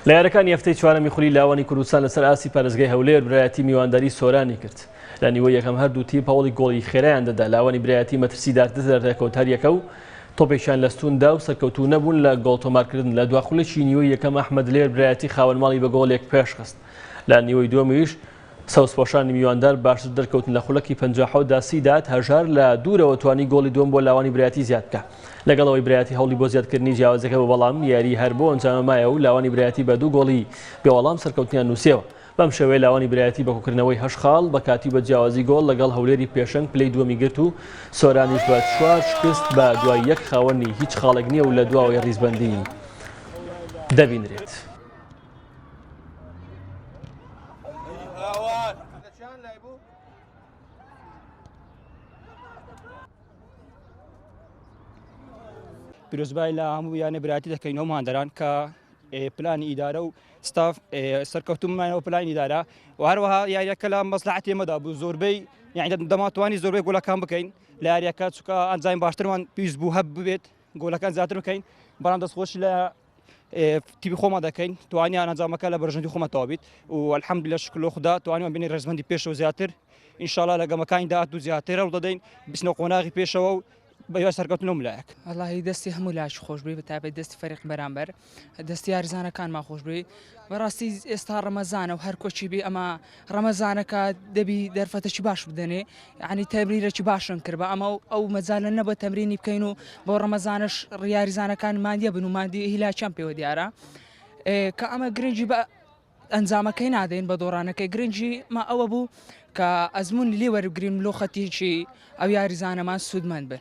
لە یارەکانی هەفتەی چوارەمی خولی لاوانی کوردستان لەسەر ئاستی پارێزگای هەولێر برایەتی میوانداری سۆرانی کرد لە نیوە یەکەم هەردوو تیم پاوڵی گۆڵی خێرایان دەدا لاوانی برایەتی مەترسیدارتر لە ڕێکەوتاریەکە و تۆپێکیان لەستوندا و سەرکەوتو نەبوون لە گۆڵ تۆمارکردن لە دواخولێکی نیوەی یەکەم ئەحمد لێر برایەتی خاوەنماڵی بە گۆڵێک پێشخست لە نیوەی دومیش سەوزپۆشانی میواندار باشتر دەرکەوتن لە خولەکی پەنجا و حەوت دا سیداد هەژار لە دوورەوە توانی گۆڵی دووەم بۆ لاوانی برایەتی زیاد بکا لەگەڵ ئەوەی برایەتی هەوڵی بۆ زیادکردنی جیاوازیەکە بوو بەڵام یاری هەر بۆ ئەنجامە مایە و لاوانی برایەتی بە دوو گۆڵی بێوەڵام سەرکەوتنیان نووسیەوە بەم شێوەیە لاوانی برایەتی بە کۆکردنەوەی هەشت خاڵ بە کاتی و بە جیاوازی گۆڵ لەگەڵ هەولێری پێشەنگ پلەی دووەمی گرت و سۆرانیش بە چوار شکست بە دوای یەک خاوەنی هیچ خاڵێک نییە و لە دواوەی ریزبەندی دەبینرێت. چیان لای بوو؟ پیرۆزبای لە هەموو یانە براتی دەکەین ئەو مادەران کە پلانی ئیدارە و ستاف سەرکەوتومانەوە پلانی دارە و هەروەها یاریەکە لە مەسلحاتی مەدا بوو زۆربەی یعنی دەماتوانی زۆربەی گوڵەکان بکەین لە یاریەکە چکە ئەنجاین باشترمان پێویست بوو هەب ببێت گۆلەکان زیاتر بکەین بەڵام دەستخۆش لە تیبی خۆمان دەکەین توانیا ئەنجامەکە لە بەرژەندی خۆمە تاوابیت و الحەمد لە شکلۆ خدا توانیوە بینی ڕێزمەندی پێشەوە زیاتر ئینشاالله لە گەمەکانی داات و زیاتر هەڵ دەدەین بچنە قۆناغی پێشەوە و بەیا سەرکەوتنم لایەک اللهی دەستی هەموو لاش خۆش بێ بەتابێت دەستی فەرق بەرامبەر دەست یارزانەکانمان خۆش بێ بەڕاستی ئێستا ڕەمەزانە و هەر کۆچی بێ ئەمە ڕەمەزانەکە دەبی دەرفەتەکی باش بدەنێ عنی تەبریرەکی باشن کرد بە ئەمە ئەو مەزانە نەبە تەمرینی بکەین و بۆ ڕەمەزانش ڕیاریزانەکان مادیە بن و مادی هیلاچەم پێوە دیارە کە ئەمە گرنگی بە ئەنجامەکەی نادەین بە دۆڕانەکەی گرنگی ما ئەوە بوو کە ئەزمموی لێ وەرگریم لۆ خەتیکی ئەو یاریزانەمان سوودمەند بن